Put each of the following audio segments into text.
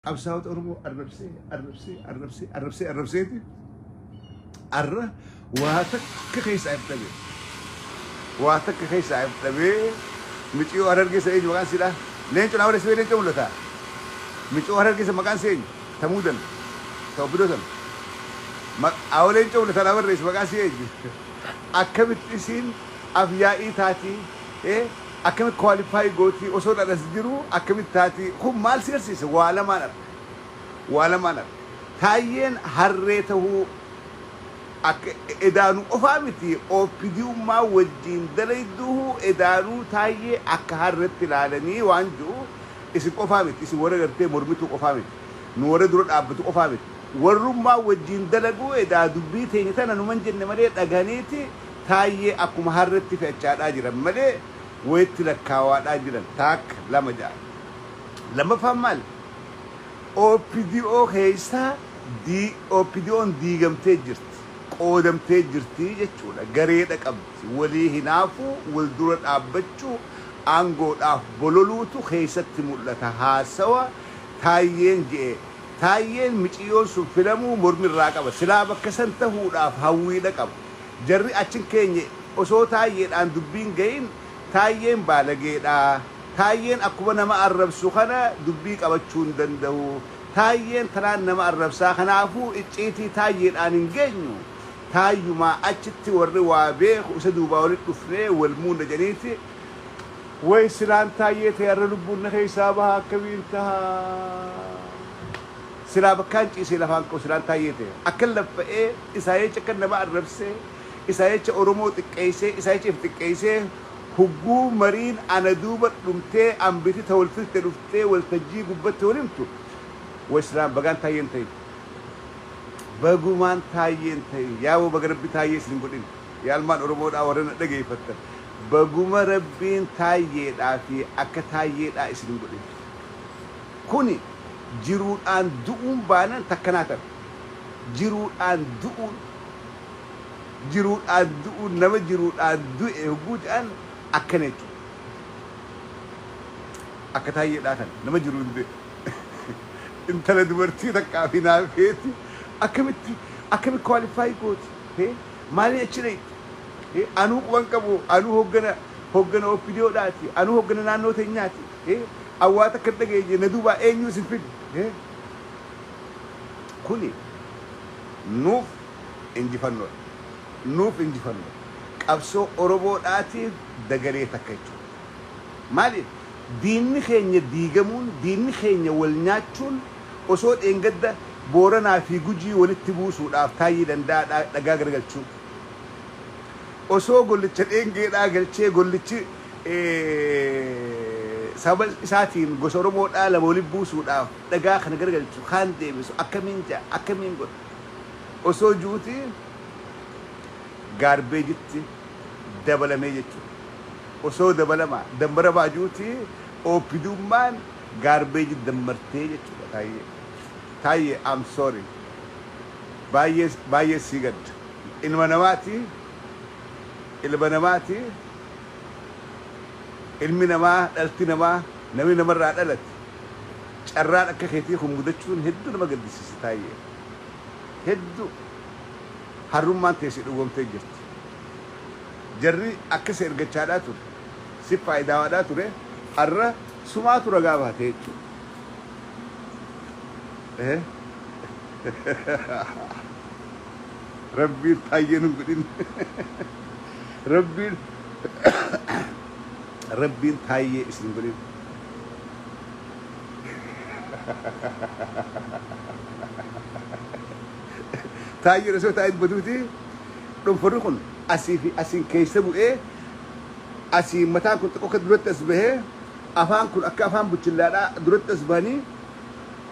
Qabsaa'ota Oromoo arrabsee, arrabsee, arrabsee, arrabsee, arrabseeti arra waa takka keessaa hin dhabee. Waa takka keessaa hin dhabee. Miciyoo Harargee isa eenyu maqaan siidhaa? Leencu naa waleessee leencu mul'ata. Miciyoo Harargee isa maqaan si eenyu? Tamuu dana. Ta'u bidoo sana. Awwa leencu mul'ata naa barreessi maqaan si eenyu? Akkamitti isiin afyaa'ii taatii? Ee akkamitti qualify gootii osoo dhalas jiru akkamitti taatii kun maal si garsiisa waa lamaan arga waa lamaan arga taayyeen harree tahuu akka edaanu qofaa miti opdummaa wajjiin dalayduuhu edaanuu taayyee akka harretti ilaalanii waan ji'u isin qofaa miti isin warra gartee mormituu qofaa miti nu warra dura dhaabbatu qofaa miti warrummaa wajjiin dalaguu edaa dubbii teenya tana numan jenne malee dhagahaniiti Taayyee akkuma harretti fe'achaadhaa jiran malee wayitti lakkaawaadhaa jiran taakka lama ja'a. Lammaffaan maali? OPDO keessaa OPDOn diigamtee jirti, qoodamtee jirti jechuudha. Gareedha qabdi. Walii hinaafuu, wal dura dhaabbachuu, aangoodhaaf bololuutu keessatti mul'ata. Haasawa Taayyeen je'e. Taayyeen miciyyoon sun filamuu mormi irraa qaba. Silaa bakka san tahuudhaaf hawwiidha qaba. Jarri achi hin keenye osoo Taayyeedhaan dubbii hin ga'iin Taayyeen baalageedha, Taayyeen akkuma nama arrabsu kana dubbii qabachuu hin danda'u, Taayyeen tanaan nama arrabsaa kanaafuu icciitii Taayyeedhaan hin geenyu, Taayyumaa achitti warri waa beeku isa duubaa walitti dhufnee wal muudna jedhaniiti Way silaan Taayyee ta'e har'a lubbuun na keessaa baha akkamiin taha? Silaa bakkaan ciisee lafaan ka'u silaan Taayyee ta'e. Akkan laffa'ee isaa jecha akkan nama arrabsee, isaa jecha Oromoo xiqqeessee, isaa jecha if xiqqeessee hugguu mariin ana duuba dhumtee ambiti ta wal filte dhuftee waltajjii gubbatti wal himtu way silaan bagaan Taayyee hin ta'in. Bagumaan Taayyee hin ta'in. Yaa wbo baga Rabbi Taayyee isin hin godhin. Yaa ilmaan Oromoodhaa warran na dhageeffattan. Baguma Rabbiin Taayyeedhaa fi akka Taayyeedhaa isin hin godhin. Kuni jiruudhaan du'uun baanan takka naa tape. Jiruudhaan du'uun jiruudhaan du'uun nama jiruudhaan du'e hogguu je'an akkana jechuudha. Akka Taayyeedhaa kana nama jiruun du'e. Intala dubartii takkaaf hinaafeeti akkamitti akkami qualify gooti? Hee maaliin achi dhayxi? Hee anuu quban qabu anuu hoggana hoggana OPDOdhaati anuu hoggana naannoo teenyaati Hee awwaa takka hin dhageenye na duubaa eenyuu isin fide hee kuni nuuf injifannoodha nuuf injifannoo qabsoo oromoodhaatiif dagalee takka jechuudha maaliif diinni keenya diigamuun diinni keenya wal nyaachuun osoo dheengadda booranaa fi gujii walitti buusuudhaaf taayyee danda'a dhagaa garagalchuun osoo gollicha dheengeedhaa galchee gollichi sababa isaatiin gosa Oromoo dhaa lama walitti buusuudhaaf dhagaa kana garagalchu, kaan deebisu, akkamiin ja'a, akkamiin godha osoo ju'uti gaarbeejitti dabalamee jechuu dha. Osoo dabalama, dammaramaa ju'uti OPDUmmaan gaarbeejitti dammartee jechuu dha Taayyee. Taayyee I'm sorry. Baay'ee baay'ee sii gadda. Ilma namaati, ilma namaati. Ilmi namaa, dhalti namaa, namni namarraa dhalate carraan akka keetii kun mudachuun hedduu nama gaddisiisa Taayyee. Heddu harrummaan tee si dhugoomtee jirti. Jarri akka si ergachaadhaa ture, sif faayidaawaadhaa ture harra sumaatu ragaa bahatee jechuudha. Rabbiin hayyee nu godhin. Rabbiin Rabbiin taayyee isin godhin. Taayyeen osoo taa'ee dubatuuti dhunfadhu kun asii fi asiin keessa bu'ee asii mataan kun xiqqoo akka duratti as bahee afaan kun akka afaan buchillaadhaa duratti as bahanii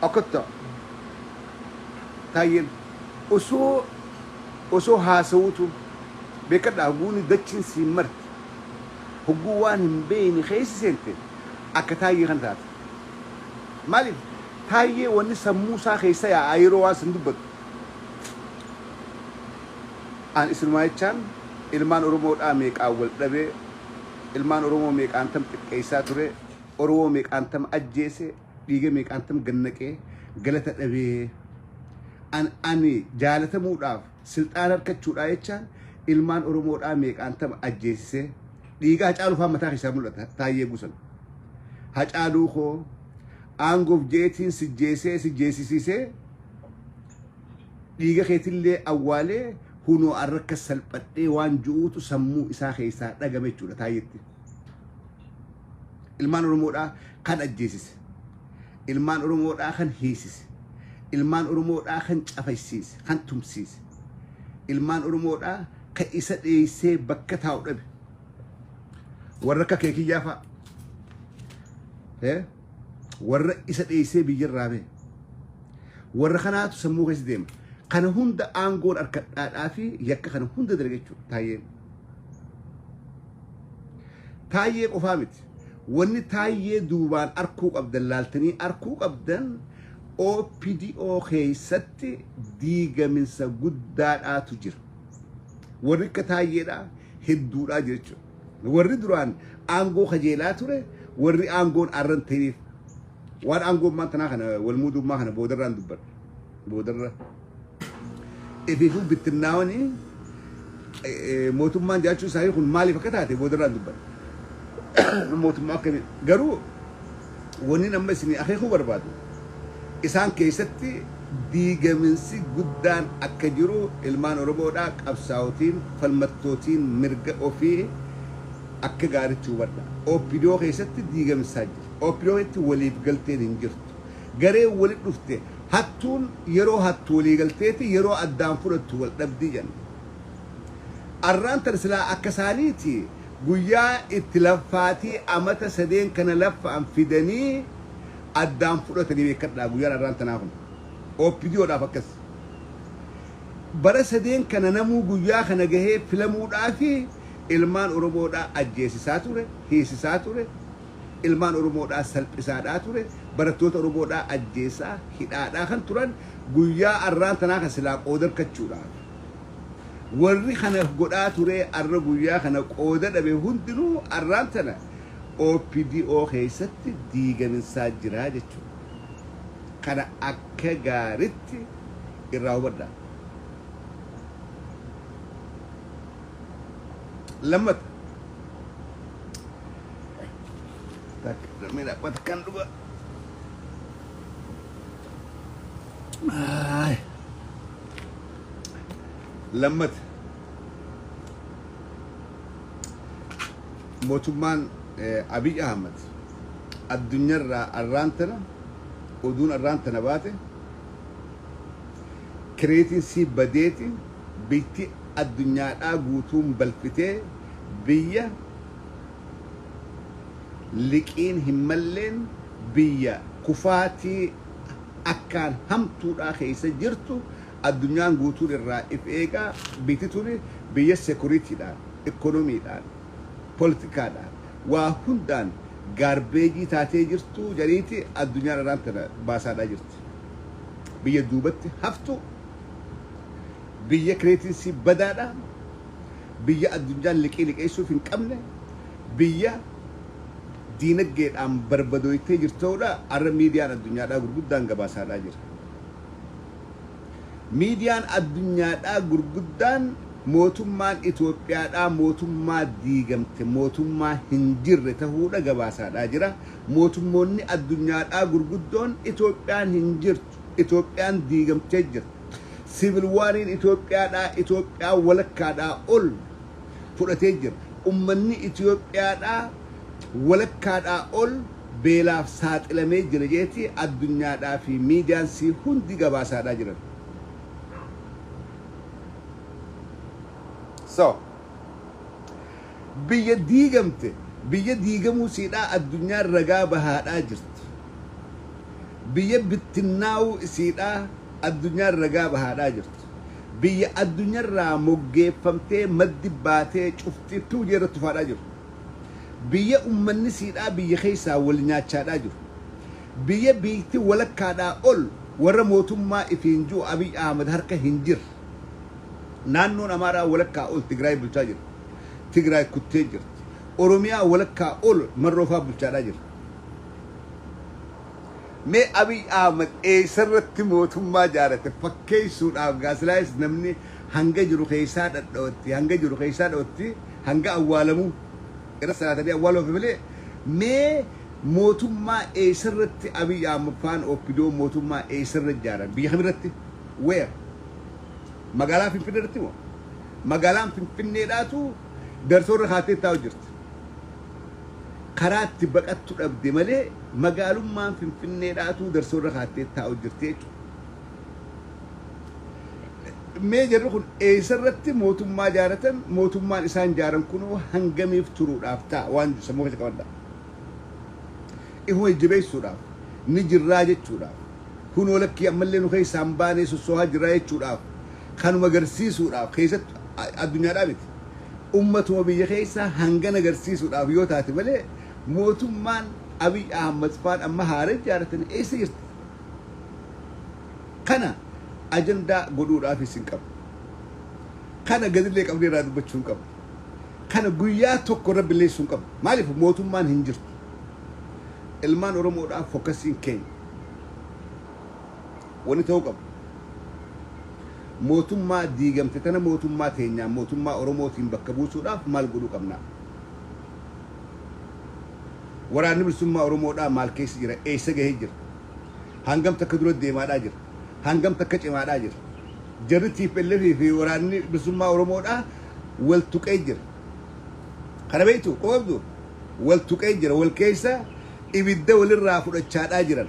akkatta taayyeen. Osoo osoo haasawuutuu. Beekkadha haguuni dachiin siin marti hogguu waan hin beeyne keessa seente akka taayyee kana taata. Maaliif taayyee wanni sammuu isaa keessa yaa'aa yeroo waan san dubbatu. An isinumaa jechaan ilmaan oromoo dhaa meeqaan wal dhabee ilmaan oromoo meeqaan tam xiqqeessaa turee oromoo meeqaan tam ajjeese Dhiiga meeqaantam gad naqee galata dhabee an ani jaalatamuudhaaf silxaana arkachuudhaa jechaan ilmaan oromoodhaa meeqaantam ajjeesisee dhiiga hacaaluu faan mataa keessaa mul'ata taayyee gusan hacaaluu koo aangoof jeetiin sijjeesee sijjeesisiisee dhiiga keetillee awwaalee hunoo arrakka salphadhee waan ju'uutu sammuu isaa keessaa dhagame jechuudha taayyetti. Ilmaan Oromoodhaa kan ajjeesise. Ilmaan Oromoodhaa kan hiisise. Ilmaan Oromoodhaa kan cafaysiise, kan tumsiise. Ilmaan Oromoodhaa kan isa dheessee bakka taa'u dhabe. Warra akka kee kiyyaa fa'a. Eh? Warra isa dheessee biyyarraa ba'e. Warra kanaatu sammuu keessa deema. Kana hunda aangoon harkadhaadhaa fi yakka kana hunda dalaga jechuudha. Taayyeen. Taayyee qofaa miti. Wanni taayyee duubaan arkuu qabdan laaltanii arkuu qabdan OPDO keessatti diigaminsa guddaadhaatu jira. Warri akka taayyeedhaa hedduudhaa jechuudha. Warri duraan aangoo kajeelaa ture warri aangoon arran ta'eef waan aangoon maantanaa kana walmuudummaa kana boodarraan dubbadha. boodarra ifiifuu bittinnaawanii mootummaan jiraachuu isaanii kun maaliif akka taate boodarraan dubbata. Mootummaa akkamii garuu wanni amma isin akeekuu barbaadu isaan keessatti diigaminsi guddaan akka jiru ilmaan Oromoodhaa qabsaa'otiin falmattootiin mirga ofii akka gaaritti hubadha. OPDO keessatti diigamsaa jira. OPDO keessatti waliif galteen hin jirtu. Garee wali dhufte Hattuun yeroo hattu waliigalteefi yeroo addaan fudhattu waldhabdi jenna. Arraan tan silaa akka isaaniiti guyyaa itti laffaatii amata sadeen kana laffa'an fidanii addaan fudhatanii beekkadhaa guyyaan arraan tanaa kun. OPDOdhaaf akkas. Bara sadeen kana namuu guyyaa kana gahee filamuudhaafi ilmaan Oromoodhaa ajjeesisaa ture, hiisisaa ture, ilmaan Oromoodhaa salphisaadhaa ture, barattoota Oromoodhaa ajjeesaa, hidhaadhaa kan turan guyyaa arraan tanaa kan silaa qooda arkachuudhaaf. Warri kana godhaa turee arra guyyaa kana qooda dhabe hundinuu arraan tana OPDO keessatti diigaminsaa jiraa jechuudha. Kana akka gaaritti irraa hubadhaa. Lammata. Lammii dhaabbata kan dhugaa. Aay. Lammata. Mootummaan eh, Abiy Ahmad addunyaarraa arraan tana oduun arraan tana baate kireetiin sii badeeti biyyatti addunyaadhaa guutuun balfitee biyya liqiin hin malleen biyya kufaatii akkaan hamtuudhaa keessa jirtu addunyaan guutuun irraa if eegaa biyti tuni biyya sekuritiidhaan, ikonomiidhaan, politikaadhaan waa hundaan gaarbeejii taatee jirtu jariiti addunyaan arraan tana baasaadhaa jirti. Biyya duubatti haftu, biyya kireetiin isii badaadha. biyya addunyaan liqii liqeessuuf hin qabne, biyya diinaggeedhaan barbadooytee jirtu ta'uudha har'a miidiyaan addunyaadhaa gurguddaan gabaasaadhaa jira. Miidiyaan addunyaadhaa gurguddaan mootummaan Itoophiyaadhaa mootummaa diigamte, mootummaa hin jirre ta'uudha gabaasaadhaa jira. Mootummoonni addunyaadhaa gurguddoon Itoophiyaan hin jirtu. jirtu. Itoophiyaan diigamtee jirti. Siivil waariin Itoophiyaadhaa, Itoophiyaa walakkaadhaa ol fudhatee jira. Ummanni Itoophiyaadhaa walakkaadhaa ol beelaaf saaxilamee jira jeeti addunyaadhaa fi miidiyaan sii hundi gabaasaadhaa jiran. So. Biyya diigamte biyya diigamuu isiidhaa addunyaan ragaa bahaadhaa jirti. Biyya bittinnaa'uu isiidhaa addunyaan ragaa bahaadhaa jirti. Biyya addunyarraa moggeeffamtee maddi baatee cufti piwjee irratti tufaadhaa jiru. Biyya ummanni isiidhaa biyya keessaa wal nyaachaadhaa jiru. Biyya biyytti walakkaadhaa ol warra mootummaa ifiin ji'u Abiy Ahmad harka hin jirre. Naannoon Amaaraa walakkaa ol Tigraay bulchaa jira. Tigraay kuttee jirti. Oromiyaa walakkaa ol Marroo faa bulchaadhaa jira. Mee Abiy Ahmed eessarratti mootummaa jaarate fakkeessuudhaaf gaa silaayis namni hanga jiru keessaa dhadha'utti hanga jiru keessaa dha'utti hanga awwaalamu irra salaatanii awwaaluuf malee mee mootummaa eessarratti Abiy Ahmed faan Oppidoon mootummaa eessarra ijaaran biyya kamirratti? Where? Magaalaa Finfinnee irratti moo? Magaalaan Finfinneedhaatu darsoo irra kaatee taa'u jirti. Karaa itti baqattu dhabde malee magaalummaan Finfinneedhaatu darsoo irra kaatee taa'u jirti jechuudha. Mee jarri kun eessa irratti mootummaa ijaaratan mootummaan isaan ijaaran kunoo hangamiif turuudhaaf ta'a waan sammuu keessa qabadha. Ifuma jajjabeessuudhaaf ni jirraa jechuudhaaf. kunoo lakkii ammallee nu keessaa hin baanee sossohaa jirraa jechuudhaaf kanuma garsiisuudhaaf keessatti addunyaadhaa miti ummatuma biyya keessaa hangana garsiisuudhaaf yoo taate malee mootummaan Abiy Ahmad faan amma haara ijaaratan eessa jirti? Kana ajandaa godhuudhaaf isin qabu. Kana gadillee qabdee irraa dubbachuu hin qabu. Kana guyyaa tokko irra billeessuu hin qabu. Maaliif mootummaan hin jirtu. Ilmaan Oromoodhaa fokasiin keenya wani ta'uu qabu mootummaa diigamte tana mootummaa teenyaan mootummaa Oromootiin bakka buusuudhaaf maal godhuu qabnaa? Waraanni Bilisummaa Oromoodhaa maal keessa jira? Eessa gahee jira? Hangam takka dura deemaadhaa jira? Hangam takka cimaadhaa jira? Jarri TPLF fi waraanni Bilisummaa Oromoodhaa wal tuqee jira. Kana beektu quba qabdu wal tuqee jira wal keessa ibidda walirraa fudhachaadhaa jiran.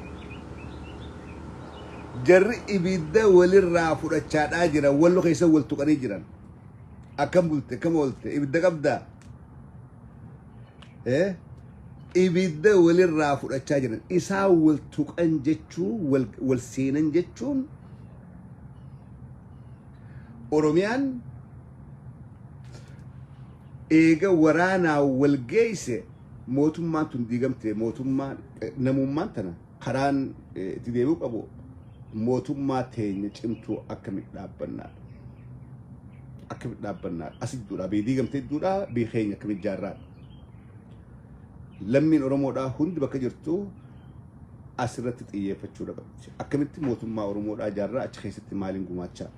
Jarri ibidda walirraa fudhachaadhaa jiran wallo keessa wal tuqanii jiran. Akkam bulte akkam oolte ibidda qabdaa? Eh? Ibidda walirraa fudhachaa jiran isaa wal tuqan jechuun wal, wal seenan jechuun Oromiyaan eega waraanaa wal geeyse mootummaan tun diigamte mootummaan eh, namummaan tana karaan eh, itti deebi'uu qabu mootummaa teenya cimtuu akkamitti dhaabbannaadha. Akkamitti dhaabbannaadha. As idduudhaa biyyi diigamte idduudhaa biyyi keenya akkamitti ijaarraadha. Lammiin Oromoodhaa hundi bakka jirtu asirratti xiyyeeffachuu dhabamti. Akkamitti mootummaa Oromoodhaa ijaarraa achi keessatti maaliin gumaachaa?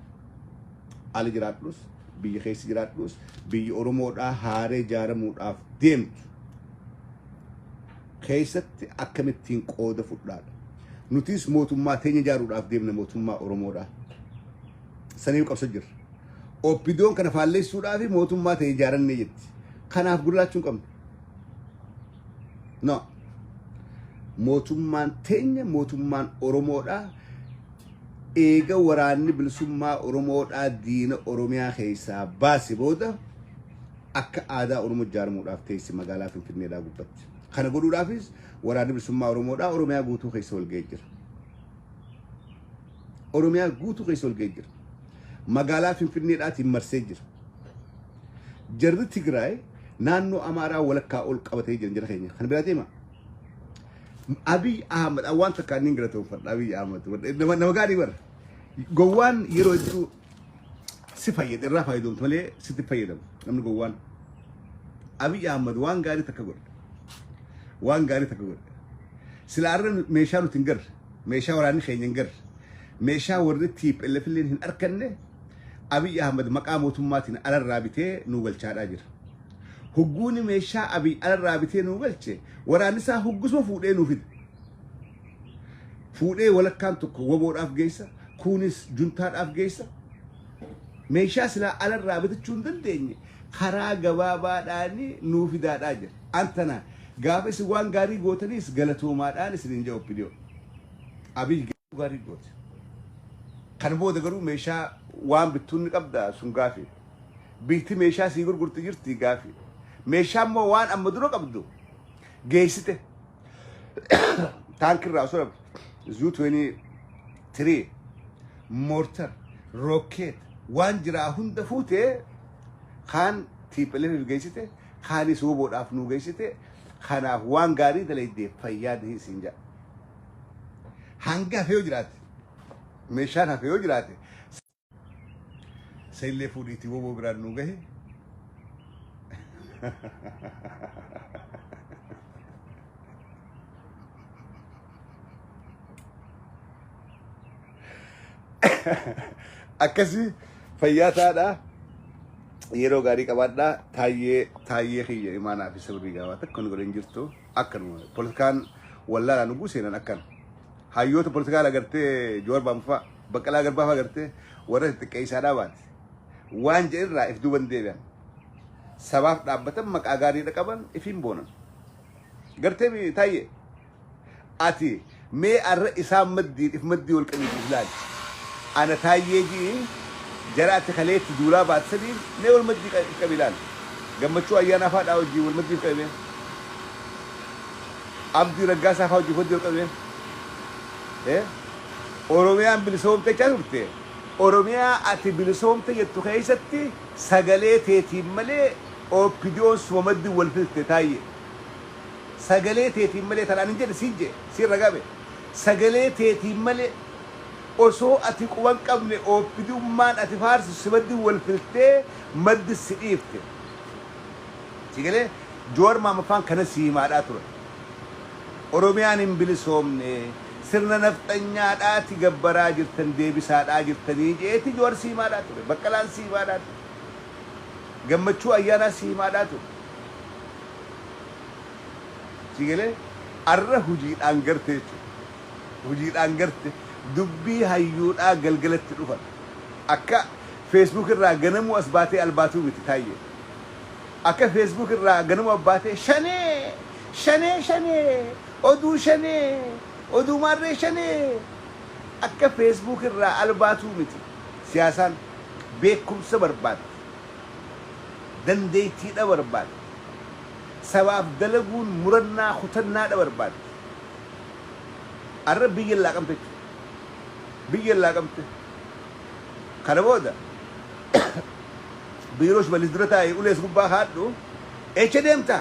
Ala jiraadhus, biyya keessa jiraadhus, biyyi Oromoodhaa haaree jaaramuudhaaf deemtu keessatti akkamittiin qooda fudhaadha. Nutis mootummaa teenya jaaruudhaaf deemna mootummaa Oromoodhaa. Saniif qabsa jirra. Oppidoon kana faalleessuudhaa fi mootummaa ta'e ijaarannee jetti. Kanaaf gurraachuun qabna. No. Mootummaan teenya mootummaan Oromoodha. Eega waraanni bilisummaa Oromoodhaa diina Oromiyaa keessaa baase booda akka aadaa Oromoo ijaaramuudhaaf teessi magaalaa Finfinneedhaa gubbatti. Kana godhuudhaafis waraanni bilisummaa Oromoodhaa Oromiyaa guutuu keessa walga'ee jira. Oromiyaa guutuu keessa ol ga'ee jira. Magaalaa Finfinneedhaatiin marsee jira. Jarri Tigraay naannoo Amaaraa walakkaa ol qabatee jiran jara keenya. Kan biraa deema. Abiy Ahmed waan takkaan niin galatoomfadha Abiy Ahmed. Nama nama gaarii bara. Gowwaan yeroo hedduu si fayyada irraa fayyadamtu malee sitti fayyadamu namni gowwaan. Abiy Ahmed waan gaarii takka godhe. Waan gaarii takka godhe. Sila arra meeshaa nuti hin garre. Meeshaa waraanni keenya hin garre, meeshaa warri tplf illeen hin arkanne Abiy Ahmad maqaa mootummaatiin alarraa bitee nuu galchaadhaa jira. Hugguuni meeshaa Abiy alarraa bitee nuu galche waraannisaa huggusuma fuudhee nuu fida. Fuudhee walakkaan tokko waboodhaaf geessa, kuunis juntaadhaaf geessa. Meeshaa silaa alarraa bitachuu hin dandeenye karaa gabaabaadhaan nuu fidaadhaa jedha. An tanaan gaafa isin waan gaarii gootaniis galatoomaadhaan isiniin jedha OPDO. Abiy garuu gaarii goote. Kana booda garuu meeshaa waan bittuun ni qabda sun gaafii. Biitti meeshaa sii gurgurti jirti gaafii. Meeshaa immoo waan amma dura qabdu geessite. taankirraa osoo dhabu zuu 23 moortar rookeet waan jiraa hunda fuutee kaan tiipheleef geessite kaanis woboodhaaf nuu geessite kanaaf waan gaarii dalaydee fayyaa dihin siin jedha hanga hafee yoo jiraate meeshaan hafee yoo jiraate Isa illee fuudhiitii woboo biraan nu gahe. Akkasii fayyaa taadhaa. yeroo gaarii qabaadhaa taayyee taayyee kiyya imaanaa fi sirrii gaawaa takka nu godhan jirtu akkanuma politikaan wallaalaa nu guuseenan akkan hayyoota politikaa agartee joorbaanfaa Baqqalaa Garbaa fa'aa gartee warra xixiqqeessaadhaa baate. Waan jedhe irraa if duuban deebi'an. Sabaaf dhaabbatan maqaa gaariidha qaban ifiin boonan. Gartee mi taayye. Ati mee arra isaan maddiin if maddii wal qabiitu ilaali. Ana taayyee ji'i jara ati kaleetti duulaa baate sadiin mee wal maddii qa- if qabi ilaali. Gammachuu ayyaanaa fa'aadhaa wajjin wal maddii if qabi mee. Abdii raggaasaa fa'aa wajjin wal maddii wal qabi mee. Eh? Oromiyaan bilisoomte jecha turte. Oromiyaa ati bilisoomte jettu keessatti sagalee teetiin malee OPDOn suma maddi wal fixxte Taayyee. Sagalee teetiin malee tan ani hin jedhe siin jedhe siin ragame. Sagalee teetiin malee osoo ati quba hin qabne OPDUmmaan ati faarsitu si maddi wal fixxee maddi si dhiifte. Sii galee? Jawar Mahammad faan kana sii himaadhaa turan. Oromiyaan hin bilisoomne sirna nafxanyaadhaati gabbaraa jirtan deebisaadhaa jirtanii je'eeti Jawar si himaadhaa ture. Baqqalaan si himaadhaa ture. Gammachuu Ayyaanaa si himaadhaa ture. Sii galee? Arra hujiidhaan garte jechuudha. Hujiidhaan garte. Dubbii hayyuudhaa galgalatti dhufan. Akka Facebook irraa ganamuu as baatee albaatuu miti Taayyee. Akka Facebook irraa ganama abbaatee shanee! Shanee shanee! Oduu shanee! Oduu maarree shanee! Akka Facebook irraa albaatuu miti. Siyaasaan beekumsa barbaaddi. Dandeettiidha barbaaddi. Sabaaf dalaguun murannaa kutannaadha barbaaddi. Arra biyya laaqamte jechuudha. Biyya laaqamte. Kana booda. Biiroo shimallis dura taa'e ulees gubbaa kaadhu echa deemta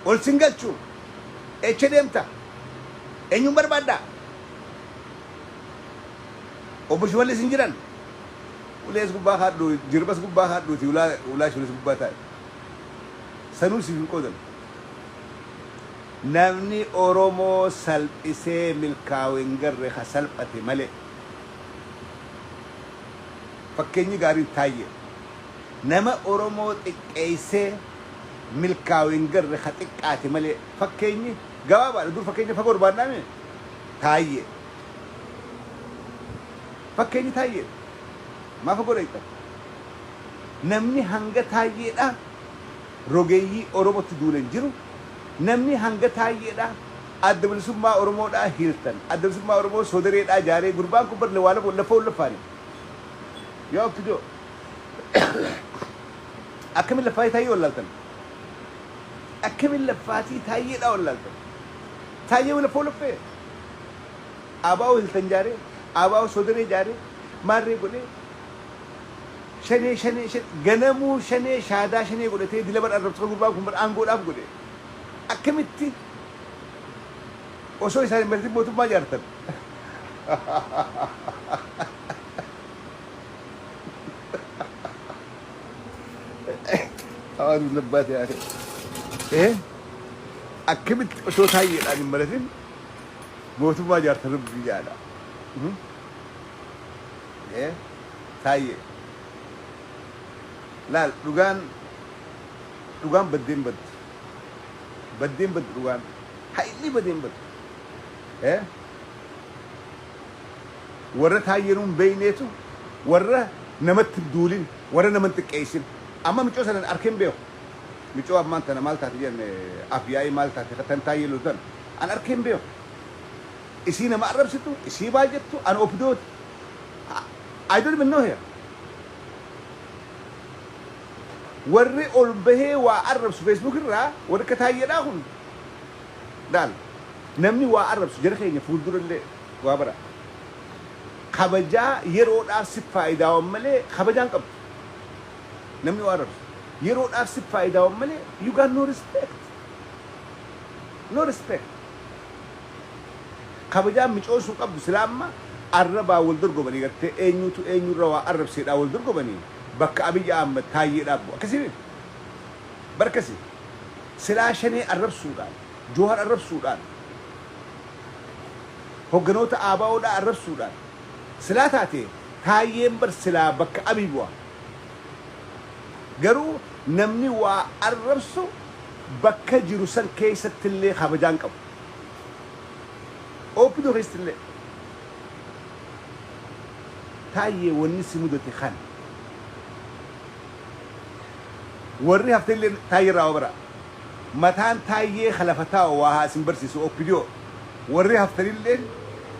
ol sin galchu echa deemta eenyuun barbaadda obbo shimallis hin jiran ulees gubbaa kaadhu jirbas gubbaa kaadhuuti ulaa ulaa shimallis gubbaa taa'e sanuu siif hin qoodan namni oromoo salphisee milkaa'u hin garre ka salphate malee Fakkeenyi gaariin Taayyee nama Oromoo xiqqeessee milkaawe hin garre ka xiqqaate malee fakkeenyi gabaabaadha dur fakkeenya fagoo barbaadnaa mii? Taayyee Fakkeenyi Taayyeedha maa fagoo dhayxan? Namni hanga Taayyeedhaa rogeeyyii Oromotti duule hin jiru namni hanga Taayyeedhaa Adda Bilisummaa Oromoo dhaa hiirtan Adda Bilisummaa Oromoo Soodaree dhaa jaaree gurbaan kun bar Lewaa Lewoo Laffoo hin laffaane Yaa Oppido Akkamin Laffaatii Taayyee wallaaltan Akkamin Laffaatii Taayyee dhaa wallaaltan Taayyee wii Laffoo Laffee Abaa'oo hiltan jaaree Abaa'oo Soodaree jaaree Maarree godhee Shanee Shanee Shanee Ganamuu Shanee Shaadaa Shanee godhatee Dila bar Arrabsoo gurbaan kun bar Aangoo dhaaf godhe akkamitti osoo isaan hin mari'atin mootummaa ijaartan? Hawaasni labbaate haa ta'e. Eh? Akkamitti osoo taayyeedhaan hin mari'atin mootummaa ijaartan rabbii jaala. Mhm. Eh? Taayyee. Laal dhugaan Dhugaan baddeen baddi. Baddeen baddi dhugaan. Ha'illi badeen baddi. Eh? Warra taayyee nuun beeyneetu warra namatti hin duulin, warra nama hin xiqqeessin. Amma micoo sanan arkee hin beeku. Micoo ammaan tana maal taate jedhan af yaa'ii maal taate ka tan taayyee loltu tan an arkee hin beeku. Isii nama arrabsitu, isii maal jettu an opidooti. I don't even know her. Warri ol bahee waa arrabsu Facebook irraa warri akka Taayyedhaa kun laal namni waa arrabsu jara keenya fuuldura illee waa bara kabajaa yeroodhaaf sif faayidaawan malee kabajaa hin qabdu namni waa arrabsu yeroodhaaf sif faayidaawan malee you got no respect no respect kabajaa micoon sun qabdu silaa amma arrabaa wal dorgomanii gartee eenyuutu eenyurra waa arrabseedhaa wal dorgomanii Bakka Abiy Ahmed Taayyee dhaaf bu'a. Akkasii miti. Bar akkasii. Silaa Shanee arrabsuudhaan, Jowhar arrabsuudhaan, hogganoota ABO dhaa arrabsuudhaan silaa taatee Taayyeen bar silaa bakka Abiy bu'a. Garuu namni waa arrabsu bakka jiru san keessatti illee kabajaa hin qabu. Opdo keessatti illee. Taayyee wanni si mudate kan. Warri haftelleen Taayyee irraa waa baraa. Mataan Taayyee ka lafa taa'u waa haa isin barsiisu OPDO. Warri haftanilleen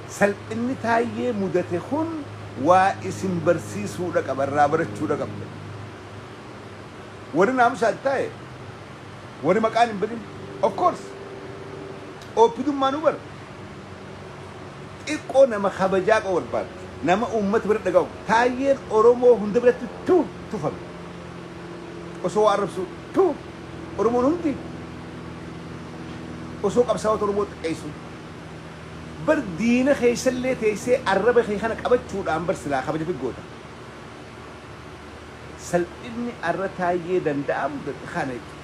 salphinni Taayyee mudate kun waa isin barsiisuudha qaba, irraa barachuudha qabda. Warri naamusaan taa'e, warri maqaan hin badin, of course! OPDUmmaanuu bar! Xiqqoo nama kabajaa qabu barbaaddi. Nama uummata bira dhaga'amu. Taayyeen Oromoo hunda biratti tuu! tufame. Osoo waa arrabsuu tuu! Oromoon hundi osoo qabsaa'ota Oromoo xiqqeessuu. Bar diina keessallee teessee arraba kee kana qabachuudhaan bar silaa kabaja fi goota. Salphinni arra Taayyee Danda'aa mudate kana jechuudha.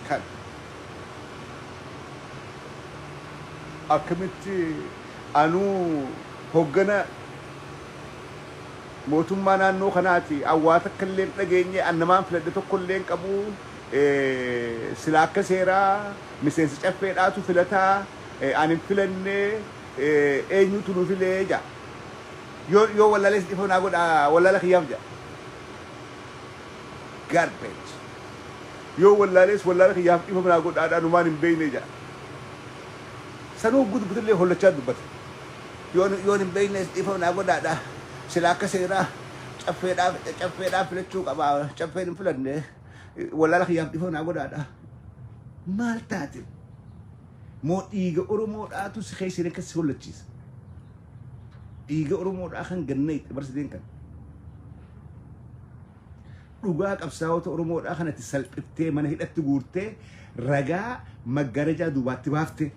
Kana. Akkamitti anuu hoggana mootummaa naannoo kanaati an waa takka illee hin dhageenye an namaan filadhe tokko illee hin qabu silaa akka seeraa miseensa caffeedhaatu filata an hin filanne eenyutu nu file jedha yoo yoo wallaalee si dhifama naa godha wallaala kiyyaaf jedha Garbage. Yoo wallaalees wallaala kiyyaaf dhifama naa godhaadhaa numaan hin beeynee jedha. Sanuu hogguu dubbatellee hollachaa dubbata. Yoon yoon hin beeynees dhiifama naa godhaadhaa. Silaa akka seeraa caffeedhaa caffeedhaa filachuu qabaa caffeen hin filannee wallaala kiyyaaf dhiifama naa godhaadhaa. Maal taate? Moo dhiiga Oromoodhaatu si keessa hin akka si hollachiisa? Dhiiga Oromoodhaa kan ganna itti barsiteen kan. dhugaa qabsaa'ota Oromoodhaa kanatti salphiftee mana hidhatti guurtee ragaa maggarajaa duubaatti baafte.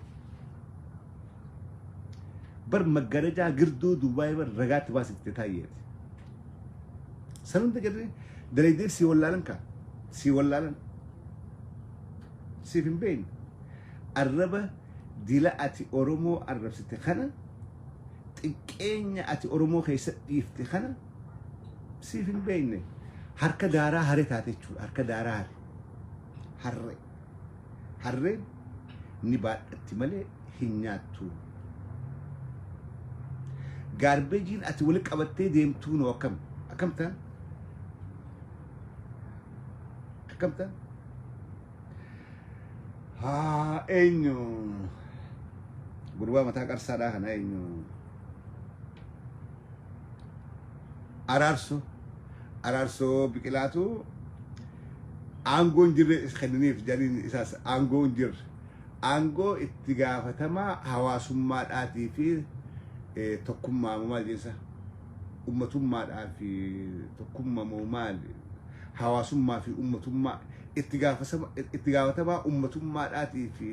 Bar maggarajaa girduu duubaa bar ragaatti baasifte taayyeeti. San hunda jedhee dalaydee sii wallaalan kaa sii wallaalan siif hin beekne arraba dila ati Oromoo arrabsite kana xiqqeenya ati Oromoo keessa dhiifte kana Siif hin beekne. Harka daaraa hare taate jechuudha. Harka daaraa hare. Harre. Harreen ni baadhatti malee hin nyaattu. Gaarbeejiin ati wali qabattee deemtuu noo akkam? Akkam ta'an? Akkam ta'an? Haa eenyu? Gurbaa mataa qarsaadhaa kana eenyu? Araarso Araarsoo Biqilaatu aangoo hin jirre is kenniniif jariin isaas aangoo hin jirre aangoo itti gaafatamaa hawaasummaadhaatii fi eh, tokkummaa moo maal jensa ummatummaadhaa fi tokkummaa moo maal hawaasummaa fi ummatummaa itti gaafasama- itti gaafatamaa ummatummaadhaatii fi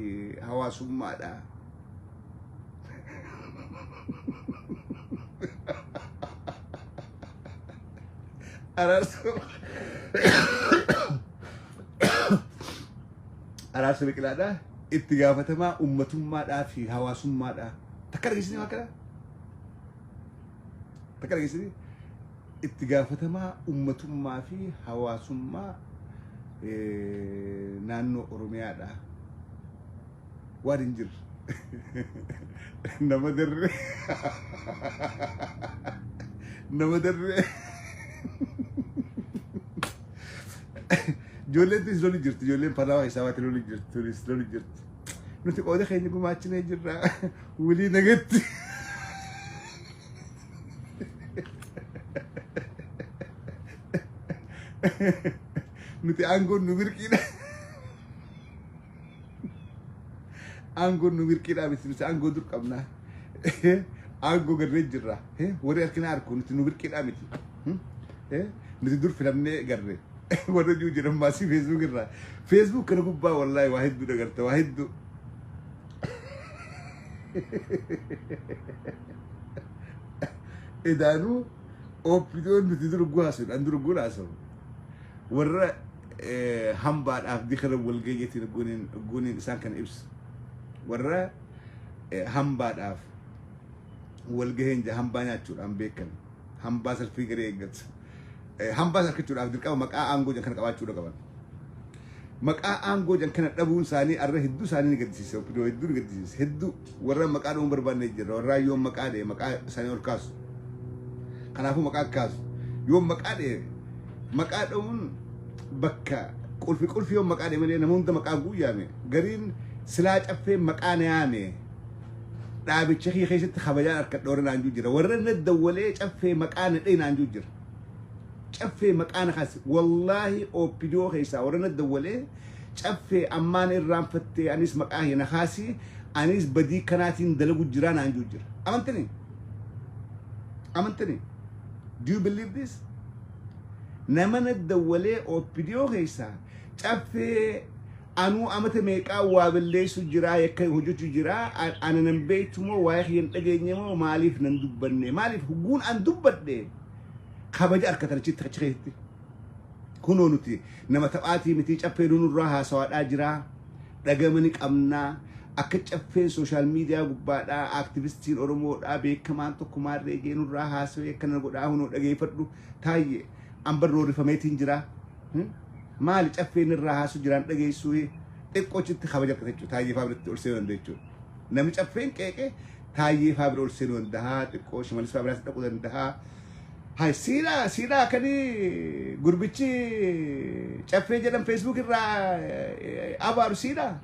hawaasummaadhaa Araarsa araarsa biqilaadhaa itti gaafatamaa ummatummaadhaa fi hawaasummaadhaa takka dhageessanii waan kana takka dhageessanii itti gaafatamaa ummatummaa fi hawaasummaa eh, naannoo Oromiyaadhaa waan hin jirre nama darre nama darre ijoolleen tunis loli jirti ijoolleen panaama keessaa baate loli jirti tunis loli jirti nuti qooda keenya gumaachinee jirra wulii nagatti nuti aangoon nu birqiidha Aangoon nu mirqiidhaa miti nuti aangoo dur qabna. Aangoo garree jirra. Warri harkina harku nuti nu mirqiidhaa miti. Nuti dur filamnee garree. Warra jiru jiran maasii feesbuuk irraa. Feesbuuk kana gubbaa wallaahi waa hedduu dagarta waa hedduu. Edaanuu ooppidoon nuti durguu haasofna an durguun haasafu. Warra hambaadhaaf dikira walgahii jetiin ogguuniin ogguuniin isaan kana ibsa. Warra hambaadhaaf walgaheen jaa hambaa nyaachuudhaan beekan. Hambaa salfii garee eeggata. Hambaa salkachuudhaaf dirqama maqaa aangoo jan kana qabaachuudha qaban. Maqaa aangoo jan kana dhabuun isaanii arra hedduu isaanii ni gaddisiisa. Oppidoo hedduu ni gaddisiisa. Hedduu. warra maqaa dha'uu hin barbaanne jirra warraa yoo maqaa dha'e maqaa isaanii ol kaasu kanaafuu maqaa kaasu yoo maqaa dha'e maqaa dha'uun bakka qulfi qulfi yoo maqaa dha'e malee nama hunda maqaa guuyyaame gariin silaa caffee maqaa na yaame dhaabicha kee keessatti kabajaan harka dhoore naan jira warra na dawwalee caffee maqaa na dha'e naan jira caffee maqaa na kaase wallaahi oopidoo keessaa warra na dawwalee Caffee ammaan irraanfattee anis maqaa kee na kaasii anis badii kanaatiin dalagu jiraa naan juu jira. Amantini? Amantini? Do you believe this? Nama na dawwalee OPDO keessaa caffee anuu amata meeqaa waa balleessu jiraa yakka hojjechu jiraa a- ana nan beektu moo waa'ee kiyya hin dhageenye moo maaliif nan dubbanne maaliif hugguun an dubbadhe kabaja argatan achitti achi keessatti kunoo nuti Nama taphaatii mitii caffeenu nurraa haasawaadhaa jiraa dhagama ni qabnaa akka caffeen social media gubbaadhaa activistiin oromoodhaa beekamaan tokko maarree jee nurraa haasawee akkana godhaa hunoo dhageeffadhu taayye anbar roorifameetiin jiraa maali caffeen irraa haasu jiraan dhageessuu xiqqoochitti kabaja argata jechuudha taayyee faabiritti ol seenuu danda'a jechuudha namni caffeen qeeqee taayyee faabira ol seenuu danda'a xiqqoo shimalis faabiraatti dhaquu danda'a Hay siidha siidha akani gurbichi caffee jedhan Facebook irraa eh, abaaru siidha.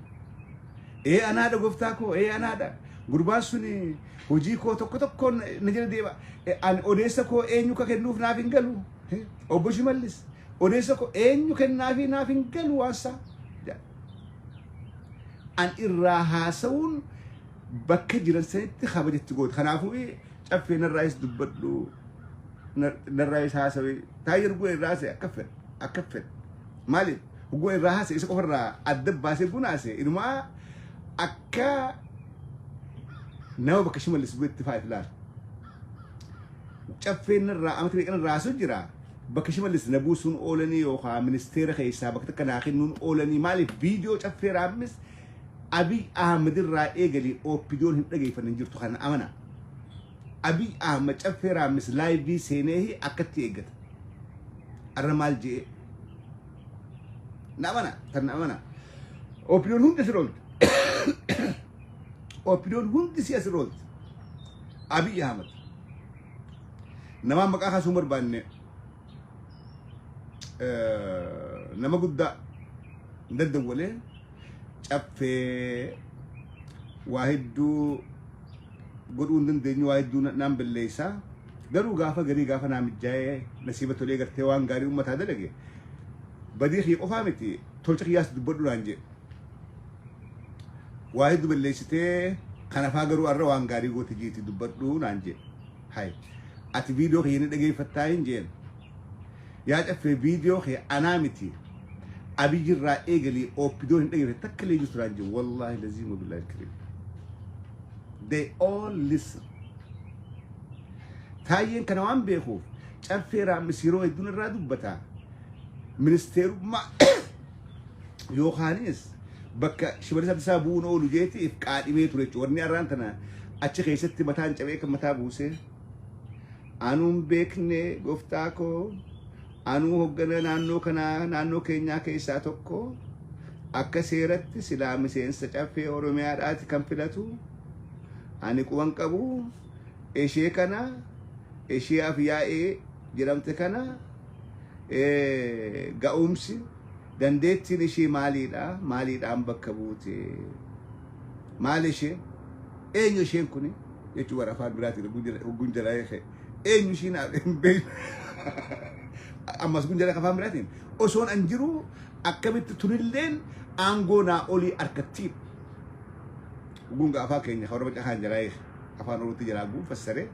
Ee anaadha goftaa koo ee anaadha. Gurbaan suni hojii koo tokko tokkoon na jala deema. Eh, Ani odeessa koo eenyu ka kennuuf naaf hin galu. Eh, Obbo Shimallis odeessa koo eenyu kennaafi naaf hin galu waansaa. An irraa haasa'uun bakka jiran sanitti kabaja itti goote. Kanaafuu caffee narraayis dubbadhu narraayis haasawe taayir guna irraa haasa'e akka fedhe akka fedhe maaliif guna irraa haasa'e isa qofa irraa adda baasee guna haasa'e inumaa akka nama bakka shimallis bu'etti fa'aa itti laala. Caffee narraa amata meeqa narraa haasa'u jira bakka shimallis na buusuun oolanii yookaan ministeera keessaa bakka takka naa kennuun oolanii maaliif viidiyoo caffee raammis Abiy Ahmed irraa eegali OPDOn hin dhageeffanne hin jirtu kana amana. Abiy Ahmed caffee raammis laayivii seeneehi akkatti eeggata. Arra maal je'ee? Na amana, tan na amana. OPDOn hundi asirra oolti. OPDOn hundi si asirra oolti. Abiy Ahmed. Namaan maqaa kaasuu hin barbaanne eh, nama guddaa hin daddawwalee caffee waa hedduu godhuu hin dandeenyu waa hedduu na- naan balleessa garuu gaafa garii gaafa naa mijjaa'ee nasiiba tolee gartee waan gaarii ummataa dalage badii kiyya qofaa miti tolcha kiyyaas dubbadhu naan jedhe waa hedduu balleessitee kanafaa garuu arra waan gaarii goote jiiti dubbadhu naan jedhe hay ati viidiyoo kiyya ni dhageeffattaa hin jeen Yaa caffee viidiyoo kee anaa miti abiyyi irraa eegalii oopidoo hin dhaggeeffatte takka illee jirtu naan jiru wallaahi laziima billaahi alkariim. They all listen. Taayyeen kana waan beekuuf caffee raammis yeroo hedduun irraa dubbata. Ministeerummaa yookaanis bakka shimalisa isaa bu'uun oolu jeetiif qaadhimee ture jechuudha. Warri arraan tana achi keessatti mataan cabee kan mataa buusee. Anuu hin beekne goftaa koo anuu hoggana naannoo kanaa naannoo keenyaa keessaa tokko akka seeratti silaa miseensa caffee oromiyaadhaati kan filatu ani quban qabu ishee kana ishee afyaa'ee jedhamte kana eh, ga'umsi dandeettiin ishee maaliidha maaliidhaan bakka buute maal ishee Eenyu isheen kuni? Jechuun warra afaan biraatiin hogguun jala- hogguun jala eege. Eenyu ishiin hin beekne. Ammas kun jala afaan biraatiin. Osoon an jiru akkamitti tunilleen aangoo naa olii harkattiin. Gunga afaan keenya kan warra caqaan jala eege. Afaan oromootti jalaa guun fassaree.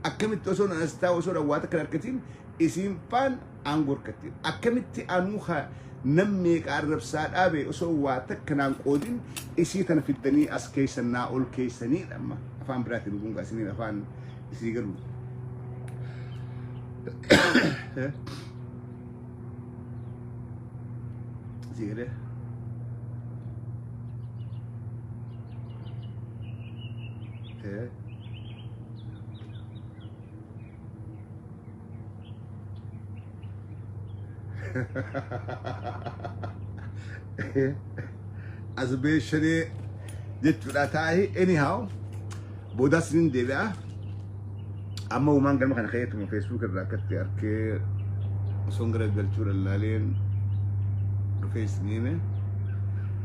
Akkamitti osoon an as taa'u osoon awwaata kan harkatiin isiin faan aangoo harkatti akkamitti anuu ka nam meeqa arrabsaa dhaabe osoo waa takka naan qoodin isii tana fiddanii as keessan naa ol keessanii dhamma afaan biraatiin kun gaasiniin afaan isii garuu. Isii galee. Eh. as beeshanee jechuudha taa'ee anyhow boodaas nin deebi'a amma uumaan galma kana keeyyatuma feesbuuk irraa akkatti arkee osoon gara galchuu lallaaleen dhufee isin hime